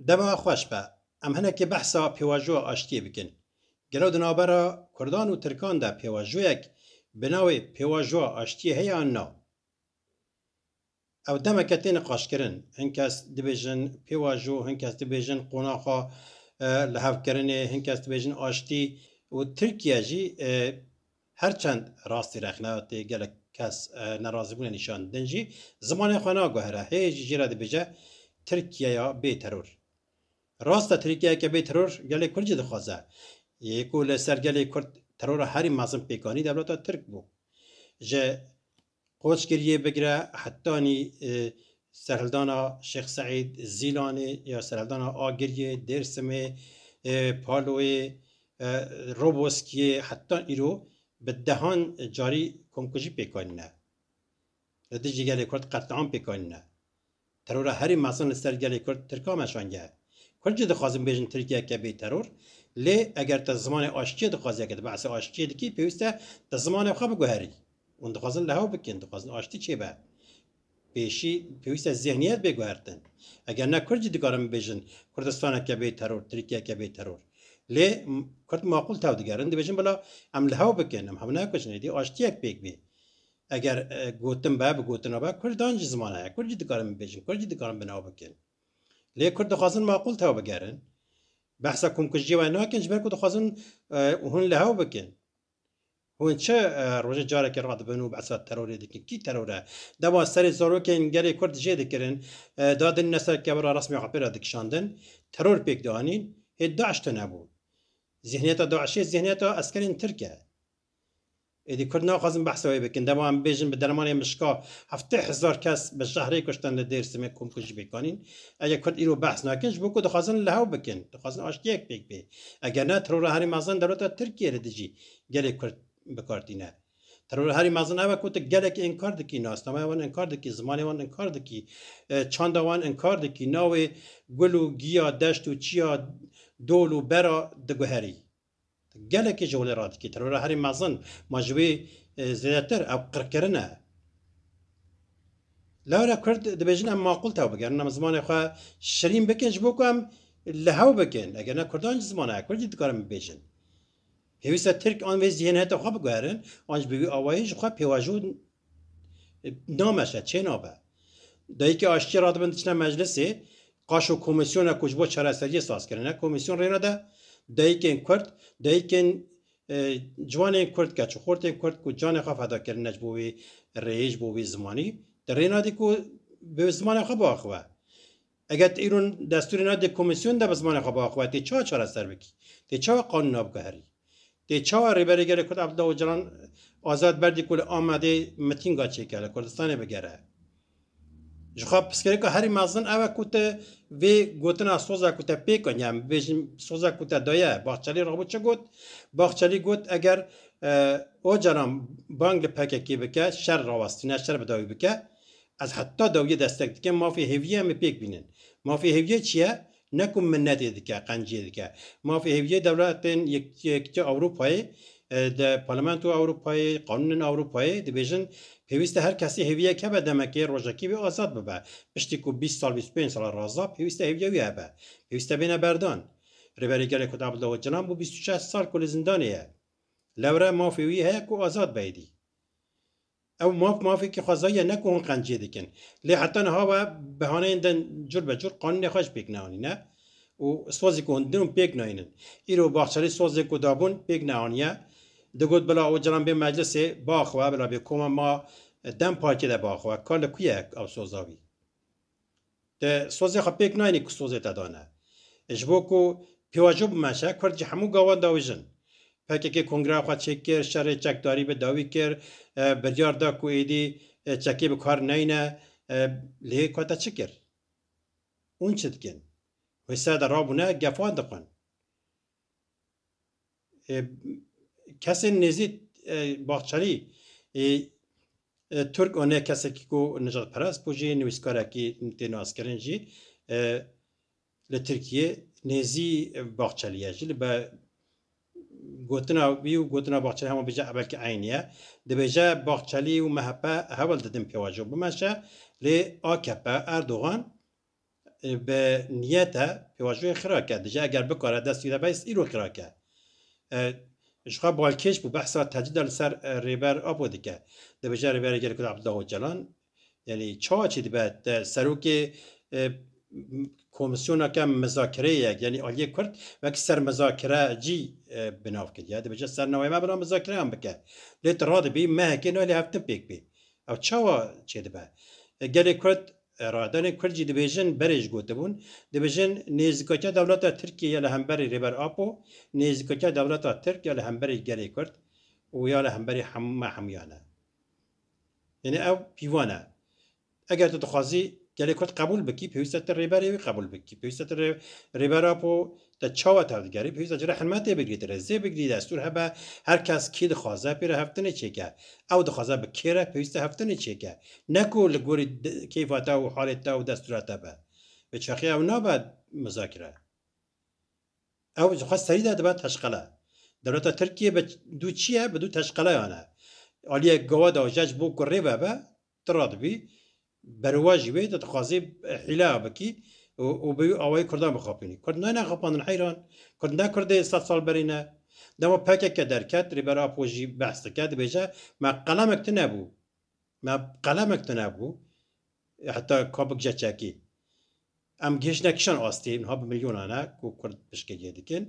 Dema xweş be, em hinekî behsa pêvajoya aştiyê bikin. Gelo di navbera kurdan û tirkan de pêvajoyek bi navê pêvajoya aştiyê heye an na? Ew demeke tê niqaşkirin. Hin kes dibêjin pêvajo, hin kes dibêjin qonaxa lihevkirinê, hin kes dibêjin aştî û Tirkiye jî Her çend rastî rexne tê gelek kes nerazîbûnê nîşan didin jî zimanê xwe naguhere hê jî jê re dibêje Tirkiyeya bê teror. Rast e Tirkiyeyeke bê teror gelê Kurd jî dixwaze. Yê ku li ser gelê Kurd terora herî mezin pêkanî dewleta Tirk bû. Ji Qoç kiriye bigire hetanî serhildana Şêx Seîd, Zîlanê ya serhildana Agiriyê, Dêrsimê, Paloyê, Roboskiyê heta îro bi dehan carî komkujî pêk anîne. Li dijî gelê Kurd qetliam pêk anîne. Terora herî mezin li ser gelê Kurd Tirkan meşange. Kurd jî dixwazin bêjin Tirkiyeke bê teror, lê eger te zimanê aştiyê dixwazî yeke di behsê aştiyê dikî pêwîste te zimanê xwe biguherî. Hûn dixwazin lehaw bikin, dixwazin aştî çêbe. Pêşî pêwîste zihniyet bê guhertin. Eger ne Kurd jî dikarin bibêjin Kurdistaneke bê teror, Tirkiyeke bê teror. Lê Kurd maqûl tev digerin, dibêjin bila em lehaw bikin, em hev nekujin, êdî aştiyek pêk bê. Eger gotin be, bi gotina be, Kurd an jî ziman heye. Kurd jî dikarin bibêjin, Kurd jî dikarin binaw bikin. Lê Kurd dixwazin maqûl tev bigerin. Behsa komkujiyê wê nakin ji ber ku dixwazin hûn li hev bikin. Hûn çi rojê carekê radibin û behsa terorê dikin. Kî teror e? Dema serê zarokên gelê Kurd jê dikirin, dadin ne ser kevira resmê apê re dikişandin, teror pêk dianîn, hê DAIŞ tune bû. Zihniyeta DAIŞê zihniyeta eskerên Tirk e. Êdî kurd naxwazin behsa wê bikin. Dema em bêjin bi dermanê mişka heftê hezar kes bi jehrê kuştin li Dêrsimê komkujî pêkanîn. Eger kurd îro behs nakin ji bo ku dixwazin li hev bikin. Dixwazin aştiyek pêk bê. Eger ne terora herî mezin dewleta Tirkiyê li dijî gelê kurd bi kar tîne. Terora herî mezin ev e ku tu gelekî inkar dikî, nasnameya wan inkar dikî, zimanê wan inkar dikî, çanda wan inkar dikî, navê gul û giya, deşt û çiya, dol û bera diguherî. Gelekî ji holê radikî terora herî mezin ma ji wî zêdetir ew qirkirin e. Lewre kurd dibêjin em maqûl tew bigerin, em zimanê xwe şirîn bikin ji bo ku em li hew bikin. Eger ne kurdan ji ziman heye, kurdî dikarin bibêjin. Pêwîste tirk an vê zîhêniyeta xwe biguherin an ji bi wî awayî ji xwe pêvajo Nameşe, çê nabe. Dayîkê aştiyê radibin diçine meclisê, qaş û komîsyona ku ji bo çareseriyê saz kirine, komîsyon rênede dayîkên Kurd, dayîkên e, ciwanên Kurd, keç û xortên Kurd ku canê xwe feda kirine ji bo wî rêyê, ji bo wî zimanî, di rê nadî ku bi zimanê xwe biaxive. Eger tu îro destûrê nadî komîsyon de bi zimanê xwe biaxivî, tê çawa çareser bikî? Tê çawa qanûna biguherî? Tê çawa Rêberê Gelê Kurd Abdullah Ocalan azad berdî ku li Amedê mitînga çêke, li Kurdistanê bigere? Jixwe pirsgirêka herî mezin ew e ku tu vê gotina soza ku te pêk in, yan bibêjin soza ku te daye, Bahçelî rabû çi got? Bahçelî got eger Ocalan bang li PKK'ê bike, şer rawestîne, şer bi dawî bike, Ez heta dawiyê destek dikim mafê hêviyê em ê pêk bînin. Mafê hêviyê çi ye? Ne ku minnetê dike, qenciyê dike. Mafê hêviyê dewletên Yekîtiya Ewropayê, di Parlamentoya Ewropayê, qanûnên Ewropayê dibêjin pêwîst e her kesî hêviyek hebe demekê rojekê wî azad bibe. Piştî ku bîst sal, bîst û pênc sal raza pêwîst e hêviya wî hebe. Pêwîst e bêne berdan. Rêberê Gelê Kurd Abdullah Ocalan bû bîst û şeş sal ku li zindanê ye. Lewre mafê wî heye ku azad be êdî. Ew maf mafekî xwezayî ne ku hûn qenciyê dikin. Lê heta niha we bi haneyên din cur be cur qanûnê xwe ji pêk neanîne û sozê ku hûn din hûn pêk nayînin. Îro Bahçelî sozê ku dabûn pêk neaniye. Digot bila Ocalan bê meclisê biaxwe bila bê koma ma Dem Partiyê de biaxwe. Ka li ku ye ew soza wî? Te sozê xwe pêk nayînî ku sozê te dane. Ji bo ku pêvajo bimeşe, kurd ji hemû gawan dawî jin. Pkk kongreya xwe çêk kir, şerê çekdarî bi dawî kir, biryar da ku êdî çekê bi kar neyne. Lê ku te çi kir? Hûn çi dikin? Wê ser de rabûne gefan dixwin. Kesên nêzî Bahçelî Turk û ne kesekî ku nijadperest bû jî nivîskarekî tê naskirin jî li Tirkiyê nêzî Bahçelî ye jî li be gotina wî û gotina Bahçelî hema bêje belkî eynî ye. Dibêje Bahçelî û MHP hewl didin pêvajo bimeşe lê AKP Erdogan Bi niyet e pêvajoyê xirak e. Dije eger bikare dest wî re bes îro xirak e. Ji xwe balkêş bû behsa tecrîda li ser Rêber Apo dike. Dibêje Rêberê gelê Kurd Abdullah Ocalan yanî çawa çê dibe te serokê komîsyoneke mizakereyê ye yanî aliyê Kurd wek sermizakere cî bi nav kiriye. Dibêje ser navê me bila mizakereyan bike. Lê tu radibî mehekê nayê lê hevtim pêk bê. Ew çawa çê dibe? Gelê Kurd Rahedanên Kurd jî dibêjin berê ji gotibûn, dibêjin nêzîkakiya dewleta Tirkiyê ya li hemberî Rêber Apo, nêzîkakiya dewleta Tirk ya li hemberî gelê Kurd û ya li hemberî me hemûyan e. Yanî ew pîvan e. Eger tu dixwazî gelê Kurd qebûl bikî, pêwîst e tu Rêberê wî qebûl bikî. Pêwîst e tu Rêber Apo Te çawa te digerî? Pêwîst e cure helmet tê bigirî, ti rêzê bigirî, destûr hebe, her kes kî dixwaze pê re heftinê çêke. Ew dixwaze bi kê re pêwîst e heftinê çêke. Ne ku li gorî keyfa te û halê te û destûra te be. Bi çaxê ew nabe muzakere. Ew ji xwe serî de dibe teşqele. Dewleta Tirkiyê bi du çi ye? Bi du teşqeleyan e. Aliyek gawa de jec bo ku rê vebe, Tu radibî berowa jî wê de dixwazî hîlaya bikî û bi wî awayî kurdan bixapînî. Kurd nayêne xapandin heyran. Kurd ne kurdê sed sal berî ne. Dema pkk derket Rêber Apo jî behs dike dibêje me qelemek tune bû. Me qelemek tune bû heta ka bikije çekî. Em gihîştine kîjan astî niha bi milyonan e ku kurd piştgiriyê dikin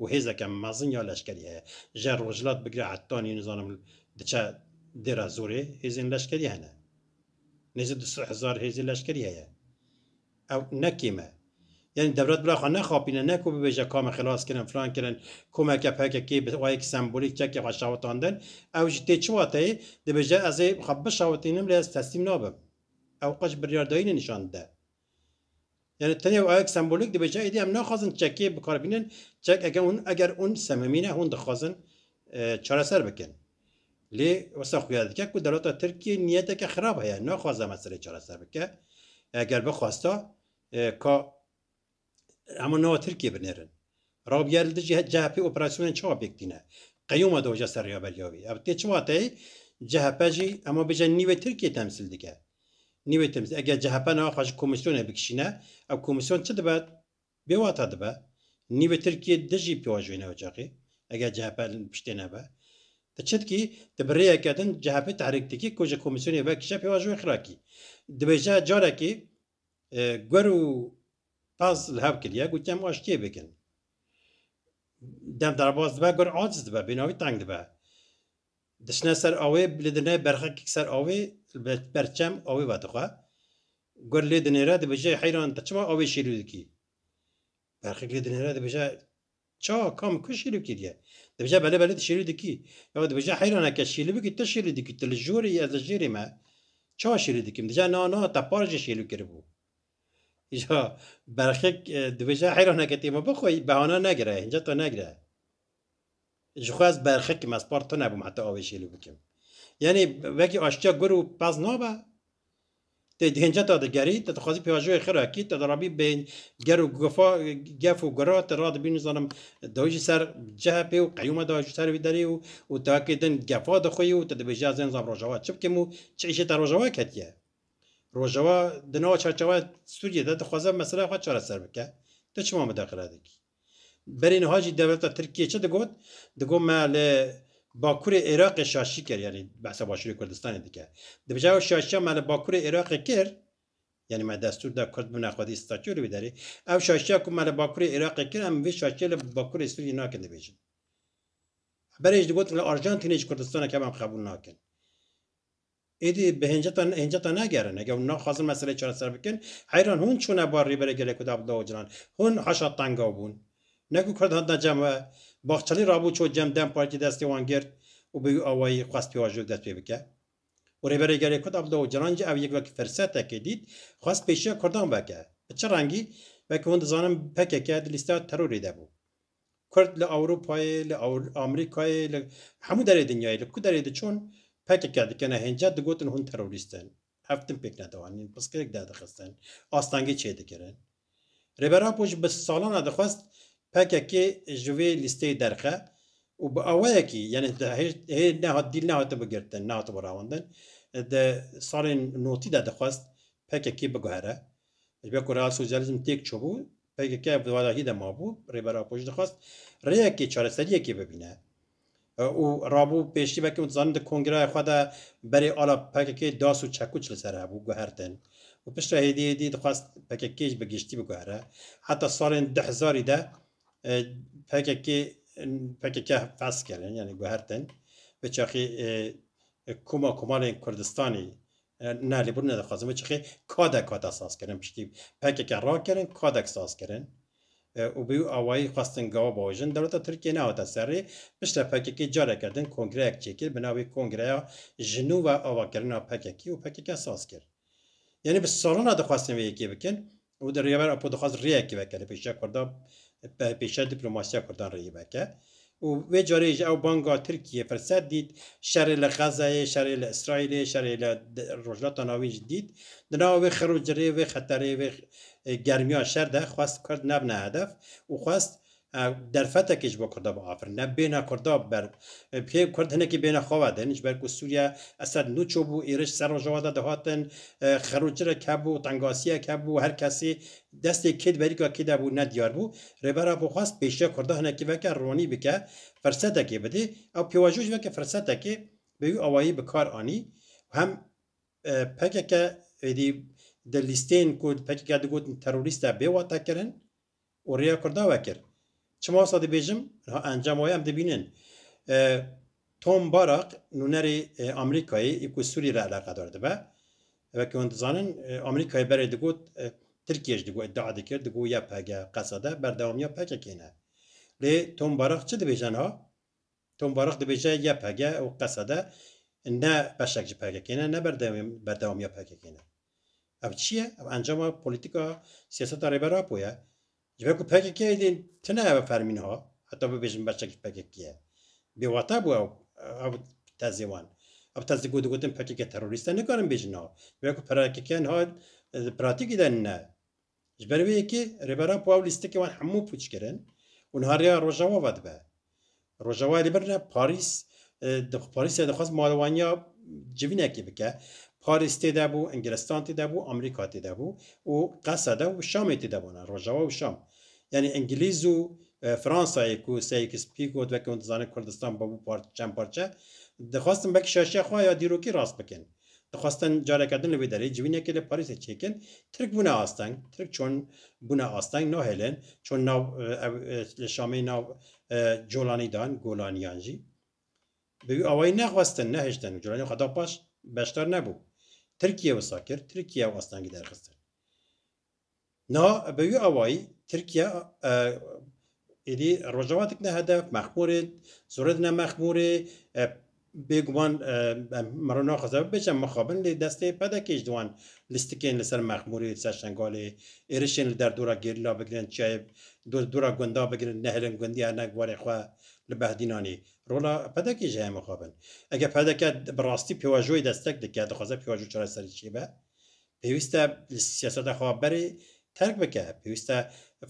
û hêzeke mezin ya leşkerî heye. Ji yer rojhilat bigire hetanî nizanim diçe Dêra Zorê hêzên leşkerî hene. Nêzî du sed hezar hêzê leşkerî heye. Ew ne kêm e. Yanî dewlet bila xwe nexapîne ne ku bibêje ka me xilas kirin filan kirin. Komeke pkk bi wayek sembolîk çekê xwe şewitandin. Ew ji tê çi wateyê dibêje ez ê xwe bişewitînim lê ez teslîm nabim. Ew qe ji biryardayînê nîşan dide. Yani tenê ayek sembolik dibe ca êdî em naxwazin çekê bikar bînin. Çek eger hûn eger hûn sememî ne hûn dixwazin çareser bikin. Lê wisa xuya dike ku dewleta Tirkiyê niyeteke xirab heye naxwaze meselê çareser bike. Eger bixwasta ka hemû nava Tirkiyê binêrin. Rabîya li dijî CHP'ê operasyonên çawa pêk tîne? Qeyûma dewja ser rêya beriya wî. Ev tê çi wateyê? CHP jî hema bêje nîvê Tirkiyê temsîl dike. Nîvê temsîl. Eger CHP nawa xwe ji komîsyonê bikişîne, ev komîsyon çi dibe? Bê wata dibe. Nîvê Tirkiyê di jî pêwa joyîne ocaqê. Eger CHP li piştê nebe. Ti çitkî, ti bi rêyeke din CHP'ê tehrîk dikî ku ji komîsyonê vekişe pêwa joyê xirakî. Dibêje carekê Gur û pez li hev kiriye ku kem aştiyê bikin. Dem derbas dibe gur aciz dibe, bênavî teng dibe. Diçine ser awê lê dine berxekek ser awê li ber çem awê vedixwe. Gur lê dinêre dibije heyran te çima awê şêlû dikî? Berxek lê dinêre dibije Ça, ka min ku şîrî kiriye? Dibêje belê belê tu şîrî dikî. Ya dibêje heyran e ke şîrî bikî tu şîrî dikî, tu li jorê yî ez li jêrê me. Ça şîrî dikîm? Dije na na te par jî şîrî kiribû. Îja berxek dibêje heyran e ke tê me bixwe yî behane negire, hinceta negire. Ji xwe ez berxekim ez par tu nebûm heta avê şîrî bikim. Yanî wekî aştiya gur û pez nabe? Te di hênce ta digerî, te dixwazî pêvajoyê xir a kî, te dirabî bên ger û gifa, gef û gura, te radibî nizanim dawî jî ser CHP'ê û qeyûma da ji ser wî derê û û te hakê din gefa dixwîyî û te dibêjî ez ê nizam Rojava çi bikim û çi îşê te Rojava ketiye. Rojava di nava çarçeweya Sûriyê de dixwaze meselaya xwe çareser bike. Tu çima midaxile dikî? Berê niha jî dewleta Tirkiyê çi digot? Digot me li Bakurê Iraqê şaşî kir yanî behsa Başûrê Kurdistanê dike. Di vija ew şaşiya me li Bakurê Iraqê kir, yanî me destûr da Kurd bibne xwedî statû li wî derê, ew şaşiya ku me li Bakurê Iraqê kir em vê şaşiyê li Bakurê Sûriyê nakin dibêjin. Berê jî digot li Arjantinê jî Kurdistanek hebe em qebûl nakin. Êdî bi hênceta te nagerin. Heke hûn naxwazin meseleyê çareser bikin, heyran hûn çûne bar Rêberê Gelê Kurd Abdullah Ocalan? Hûn haşa tanga bûn. Ne ku Kurd hatina cem we, Bahçelî rabû çû cem dem Partî destê wan girt û bi wî awayî xwest pêvajoyek dest pê bike. Û Rêberê Gelê Kurd Abdullah Ocalan jî ev yek wek firsetekê dît, xwest pêşiya Kurdan veke. Bi çi rengî? Weke hûn dizanin pkk di lîsteya terorê de bû. Kurd li Ewropayê, li Amerîkayê, li hemû derê dinyayê, li ku derê diçûn pkk dikin e hêncet digotin hûn terorîst in. Ev tim pêk nedianîn, piskirek derdixistin, astengî çêdikirin. Rêber Apo ji bi salan e dixwest pkk ji vê lîsteyê derxe û bi awayekî yanî hê nehat dîl nehatibe girtin, nehatibe rawandin. Di salên notî de dixwest pkk biguhere. Ji ber ku real sosyalîzm têk çûbû, PKK di warahî de mabû, Rêber Apo jî dixwest rêyekê, çareseriyekê bibîne û rabû pêşî wekî hûn dizanin di kongreya xwe de berê ala PKK'ê das û çekuç li ser hebû guhertin û pişt re hêdî hêdî dixwest PKK'ê jî bi giştî biguhere. Heta salên du hezarî de PKK'ê pkk fes kirin yanî guhertin, bi çaxî koma komalên Kurdistanê Na lê bûrne dixwazin vê çixê kadek hate sazkirin piştî pkk rakirin kadek sazkirin û bi wî awayî xwestin gawa biajin. Dewleta Tirkiyeyê nehate serê. Piştre pkk careke din kongreyek çêkir bi navê Kongreya Jinû ve avakirina pkk û pkk saz kir. Yanî bi salan re dixwestin vê yekê bikin Ew di rêya me re Apo dixwaz rêyekê veke li pêşiya Kurdan, li pêşiya dîplomasiya Kurdan rêyê veke û vê carê jî ew banga Tirkiyeyê firset dît, şerê li Xezeyê, şerê li Îsraîlê, şerê li Rojhilata Navîn jî dît. Di nava vê xirûcirê, vê xeterê, vê germiya şer de xwest Kurd nebine hedef û xwest Ev derfetekî ji bo Kurda bû afirin. Ev bêhna Kurda ber kê Kurd hinekî bêhna xwe ve din. Ji ber ku Sûriye Esed nûço bû, êriş ser rojava de dihatin, xerûçirek hebû, tengasiyek hebû, her kesî destê kê di berîka kê de bû ne diyar bû. Rêbera xwe xwest pêşiya Kurda hinekî veke ronî bike, firsetekê bidê. Ew pêvajoyê ji veke firsetekê bi wî awayî bi kar anî. Hem pkk êdî di lîsteyên ku di pkk de digotin terorîst e bê watekirin. û rêya Kurda vekir. Çima wisa dibêjim, niha encama wê em dibînin. Tom Barak, nûnerê Amerîkayê yê ku Sûriyê re eleqedar dibe, wekî hûn dizanin, Amerîkayê berê digot, Tirkiyê jî digot, îdia dikir, digot YPG, Qesede, berdewamiya PKK'ê ne. Lê Tom Barak çi dibêje niha? Tom Barak dibêje YPG û Qesede ne beşek ji PKK'ê ne, ne berdewamiya PKK'ê ne. Ev çi ye? Ev encama polîtîka siyaseta Rêber Apo ye. Ji ber ku PKK'yê dê tune ev e fermî niha, heta bibêjin berçavkî PKK ye. Bêwate bû ew ev tezê wan. Ev tez di ku digotin PKK terorîst e nikarin bêjin niha. Ji ber ku PKK niha di pratîkê de ne. Ji ber wê yekê Rêberan Puaw lîstikên wan hemû pûç kirin û niha rêya Rojawa ve dibe. Rojawayê li vir ne Parîs, Parîsê dixwest malewaniya civînekî bike. Parîs tê de bû, Ingilstan tê de bû, Amerîka tê de bû û Qeseda û Şamê tê de bûne, Rojawa û Şam. Yanî Ingilîz û Fransayê ku Seyikis Pîkot weke hûn dizane Kurdistan bûbû çend parçe, dixwestin belkî şaşiya xwe ya dîrokî rast bikin. Dixwestin careke din li wê derê civînekê li Parîsê çêkin, Tirk bûne asteng, Tirk çon bûne asteng nahêlin, çon nav ew li Şamê nav Colanî dan, Golaniyan jî bi wî awayî nexwestin, nehiştin û Colanî xwe da paş beşdar nebû. Tirkiye wisa kir, Tirkiye ew astengî derxistin. Na bi wî awayî Tirkiye êdî Rojava dikine hedef, Mexmûrê zorê dine Mexmûrê bêguman mero naxwaze bibêje mixabin lê destê PDK'ê ji wan lîstikên li ser Mexmûrê li ser Şengalê êrişên li derdora gerîla bigirin çiyayê dora gunda bigirin nehêlin gundî erne warê xwe li behdînanê rola PDK'ê jî heye mixabin. Eger PDK bi rastî pêwajoyê destek dike dixwaze pêwajo çareserî çêbe Pêwîst e li siyaseta xwe berê terk bike, pêwîst e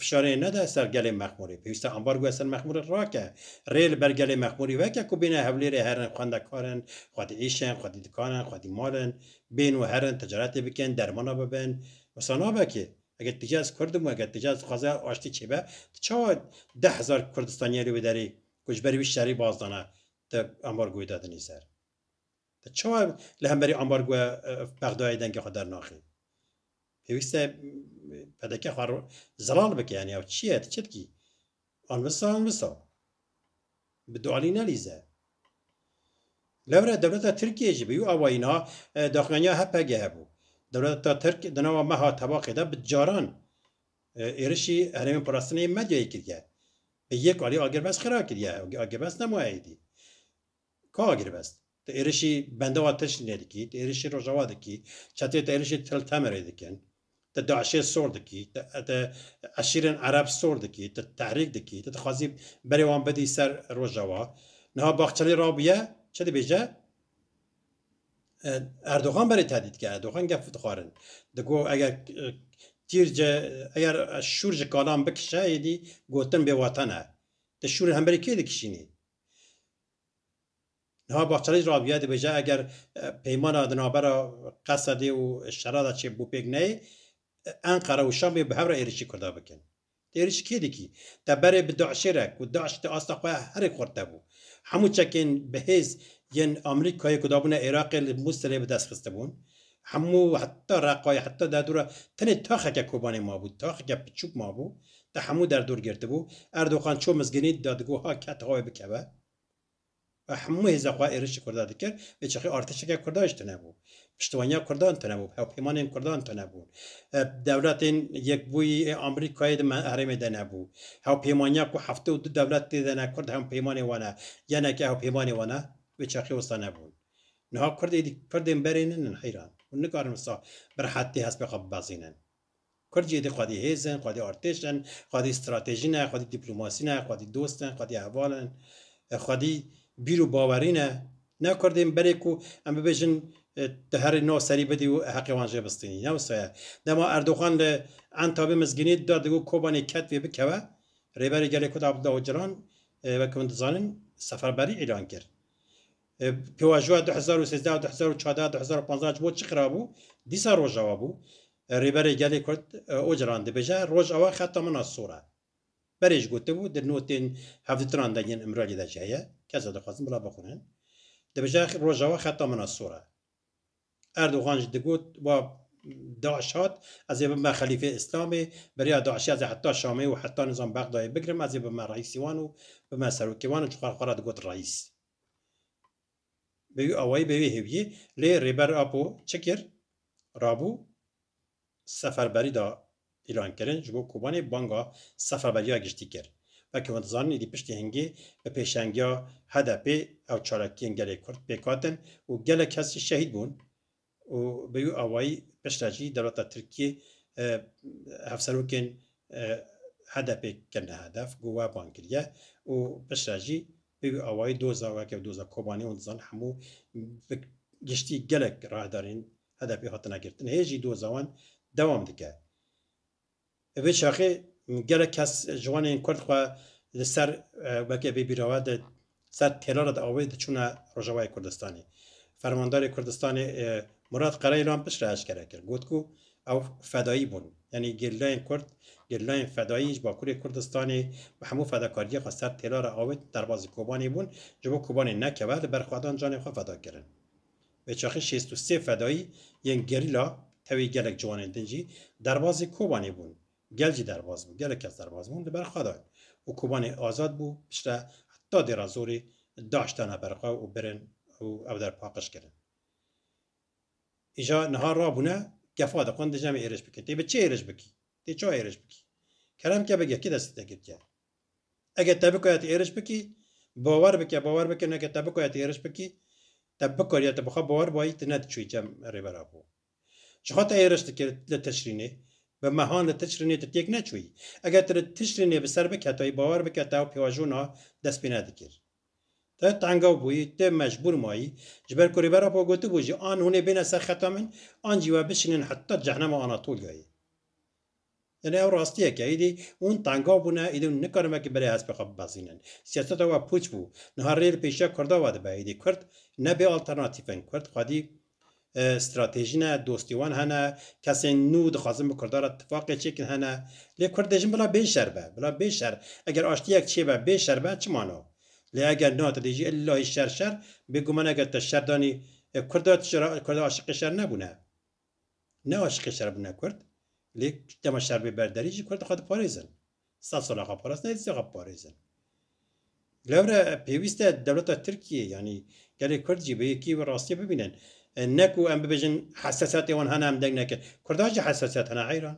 fişarê nede ser gelê Mexmûrê, pêwîst e ambargoya ser Mexmûrê rake, rê li ber gelê Mexmûrê veke ku bêne Hewlêrê herin xwendekar in, xwedî îş in, xwedî dikan in, xwedî mal in, bên û herin ticaretê bikin, dermana bibin. Wisa nabe kê. Eger tu bêjî ez kurd im û eger tu bêjî ez dixwazim aştî çêbe, tu çawa deh hezar kurdistaniyê li wê derê ku ji ber wî şerî baz dana tu ambargoyê dadinî ser? Te çawa li hemberî ambargoya Bexdayê dengê xwe dernaxî? Pêwîst e PDK xwe zelal bike yanî ew çi ye tu çi dikî? Anvisa anvisa. Bi du alî nelîze. Lewre dewleta Tirkiyeyê jî bi wî awayî na daxuyaniya HPG'ê bû. Dewleta Tirk di nava meha tebaqê de bi caran êrişî herêmên parastinê yê medyayê kiriye. Bi yek alî agirmes xira kiriye. Agirmes nemaye êdî. Ka girbest, tu êrişî bendewa Tirşînê dikî, tu êrişî Rojava dikî, çeteyê te êrişî Tel Temerê dikin, tu DAIŞ'ê sor dikî, tu eşîrên Ereb sor dikî, tu tehrîk dikî, tu dixwazî berê wan bidî ser Rojava. Niha Baxçelî rabûye çi dibêje? Erdogan berê tehdît dike, Erdogan gef dixwarin. Digo eger tîr ji, eger şûr ji kalan bikişe êdî gotin bêwatan e. Tu şûr li hemberî kê dikişînî? Niha Bahçelî ji Rabîyayê dibêje eger peymana di navbera Qesedê û Şeradê çê bo pêk neyê, Enqere û Şamê bi hev re êrîşî Kurdan bikin. Te êrîşî kê dikî? Te berê bi DAIŞ'ê re ku DAIŞ di asta xwe herî xurt de bû. Hemû çekên bi hêz yên Amerîkayê ku dabûne Êraqê li Mûsilê bi dest xistibûn. Hemû heta Reqayê heta Derdora tenê taxeke Kobanê mabû, taxeke piçûk mabû, te hemû derdor girtibû. Erdoxan çû Mizgînî da digo ha ket ha wê bikeve. Ve hemû hêza xwe êrişî Kurda dikir, bi çixî artêşeke Kurda jî tune bû. Piştwaniya Kurdan tune bû, hewpêmanên Kurdan tune bûn. Dewletên Yekbûyî ê Amerîkayê di herêmê de nebû. Hewpêmaniya ku heftê û du dewlet tê de ne Kurd hewpêmanê wan e, geneke hewpêmanê wan e, wê çaxê wisa nebûn. Niha Kurdê di Kurdên berê nin in heyran. Hûn nikarin wisa bi rehetî hespê xwe bibezînin. Kurd jî êdî xwedî hêz in, xwedî artêş in, xwedî stratejî ne, xwedî dîplomasî ne, xwedî dost in, xwedî heval in, xwedî bîr û bawerî ne. Ne Kurdên berê ku em bibêjin tu herî nav serî bidî û heqê wan jê bistînî. Ne wisa ye. Dema Erdogan li Entabê mizgînî da digot Kobanê ketvê bikeve, Rêberê Gelê Kurd Abdullah Ocalan wek hûn dizanin seferberî îlan kir. Pêvajoya du hezar û sêzdeh û du hezar û çardeh û du hezar û panzdeh ji bo çi xirab bû? Dîsa Rojava bû. Rêberê Gelê Kurd Ocalan dibêje, Rojava xeta min a sor e. Berê jî gotibû, di notên hevdîtinan de yên Îmraliyê de jî heye, kes ez dixwazim bila bixwînin, dibêje Rojava xeta min a sor e. Erdogan jî digot wa DAIŞ hat, ez ê bibime xelîfê Îslamê, bi rêya DAIŞê ez ê heta Şamê û heta nizam Bexdayê bigirim, ez ê bibime reîsê wan û bibime serokê wan û ji xwe re xwe re digot reîs. Bi wî awayî bi wê hêviyê lê Rêber Apo çi kir? Rabû seferberî da îlankirin ji bo Kobanê banga seferberiya giştî kir. Weke hûn dizanîn êdî piştî hingê bi pêşengiya HDP'ê ew çalakiyên gelê Kurd pêk hatin û gelek kes jî şehîd bûn û bi wî awayî piştre jî dewleta Tirkiyê hevserokên HDP'ê kirine hedef, ku we bang kiriye û piştre jî bi wî awayî doza weke doza Kobanê û dizan hemû bi giştî gelek rahdarên HDP'ê hatine girtin, hê jî doza wan dewam dike. Bi vê çaxê gelek kes ji wan ên kurd xwe li ser weke vê bîrava di ser têlara di awê diçûne Rojavayê Kurdistanê. Fermandarê Kurdistanê Murat Qereylan piştre eşkere kir, got ku ew fedayî bûn. Yanî gerîlayên kurd, gerîlayên fedayî ji Bakurê Kurdistanê bi hemû fedakariyê xwe ser têlara awê derbazî Kobanê bûn, ji bo Kobanê nekeve li ber xwedan canê xwe feda kirin. Bêçaxî şêst û sê fedayî yên gerîla tevî gelek ciwanên din jî derbazê Kobanê bûn. Gel jî derbaz bû. Gelek kes derbaz bûn li ber xwe dan û Kobanê azad bû piştre heta dêra zorê DAIŞ dana ber xwe û birin û ew der paqij kirin. Îja niha rabûne gefa dixwin dije me êrîş bike. Tê bi çi êrîş bikî? Tê çawa êrîş bikî? Kerem ke bige kê destê te girtiye? Eke te bikoya tu êriş bikî, bawer bike, bawer bike neke te bikoya tu êriş bikî, te bikariya te bi xwe bawer bûayî tu nediçûyî cem rêbera xwe. Çixa te êriş dikir li Tişrînê, bi mehan li Tişrînê tu têk neçûyî. Eger tu li Tişrînê bi ser biketayî bawer bike te ew pêwajona dest pê nedikir. Tu tengaw bûyî, tu mecbûr mayî. Ji ber ku rêbera xwe gotibû jî an hûn ê bêne ser xeta min an jî we bişînin heta cehnema Anatolyayê. Tenê ew rastiyek e. Îdî hûn tengav bûne, îdî hûn nikarin wekî berê hespê xwe bibezînin. Siyaseta we pûç bû. Niha rê li pêşiya Kurda we dibe. Îdî Kurd ne bê alternatîf in. Kurd xwedî stratejî ne, dostê wan hene, kesên nû dixwazin bi Kurdan re tifaqê çêkin hene. Lê Kurd dê jin bila bê şer be. Bila bê şer. Eger aştiyek çêbe bê şer be çi mana? Lê eger na tu dê jî illahî şer şer, bêguman eger te şer danî Kurda tu ji Kurda aşiqê şer nebûne. Ne aşiqê şer bûne kurd, lê dema şer bê ber derî jî kurd xwe diparêzin. Sed sal xwe parastin hêdî sal xwe biparêzin. Lewre pêwîst e dewleta Tirkiyê yanî gelê kurd jî bi yekî bi rastiyê bibînin. Ne ku em bibêjin hesasiyetê wan hene em deng nekin. Kurdan jî hesasiyet hene heyran.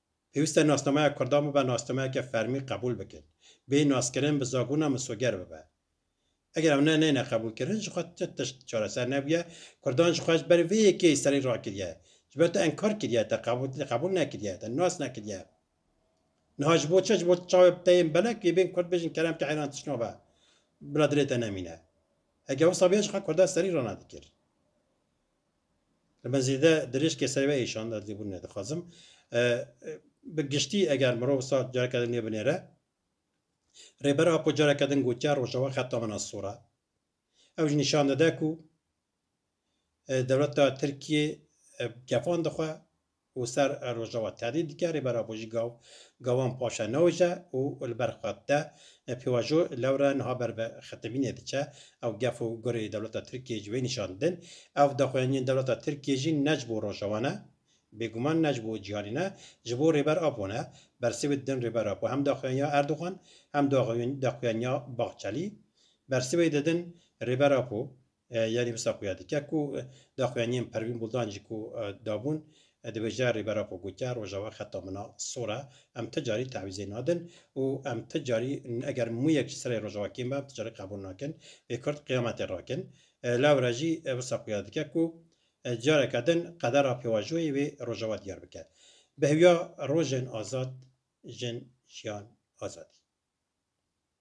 Pêwîst e nasnameya kurdan bibe nasnameyeke fermî qebûl bikin. Bê naskirin bi zabûna misoger bibe. Eger ew ne neyne qebûlkirin ji xwe ti tişt çareser nebûye. Kurdan ji xwe ji ber vê yekê serî rakiriye. Ji ber te enkar kiriye, te qebûl nekiriye, te nas nekiriye. Niha ji bo çi? Ji bo tu çavê bi te yên belek yê bên kurd bêjin kerem ke eyran tişt nabe. Bila dilê te nemîne. Heke wisa bûye ji xwe kurdan serî ranadikir. Li me zêde dirêj ke serê we êşand ez lêbûn nedixwazim. Bi giştî eger mirov sar careke din nê binêre, Rêber Apo careke din gotiya Rojava xeta min a sor e. Ew jî nîşan dide ku dewleta Tirkiyê gefand dixwe û ser Rojava tehdît dike, Rêbera Bojîga gawan paşa naoje û li ber xwe dide. Pêvajo lewre niha ber bi xetemînê diçe. Ew gef û gurê dewleta Tirkiyê ji wê nîşan didin. Ev daxuyaniyên dewleta Tirkiyê jî ne ji bo Rojava ne. Bêguman ne ji bo cîhanî ne, ji bo Rêber Apo ne. Bersivê didin Rêber Apo hem daxuyaniya Erdogan hem daxuyaniya Bahçelî. Bersivê didin Rêber Apo Yarî wisa xuya dike ku daxuyaniyên Perwîn Buldan jî ku dabûn, dibêje Rêbera xwe gotiya Rojava xeta min a sor e, em ti carî tewîzê nadin û em ti carî eger mûyek ji serê Rojava kêm be em ti carî qebûl nakin, wê Kurd qiyametê rakin. Lewre jî wisa xuya dike ku careke din qedera pêvajoyê wê Rojava diyar bike. Bi hewiya rojên azad jin jiyan azadî.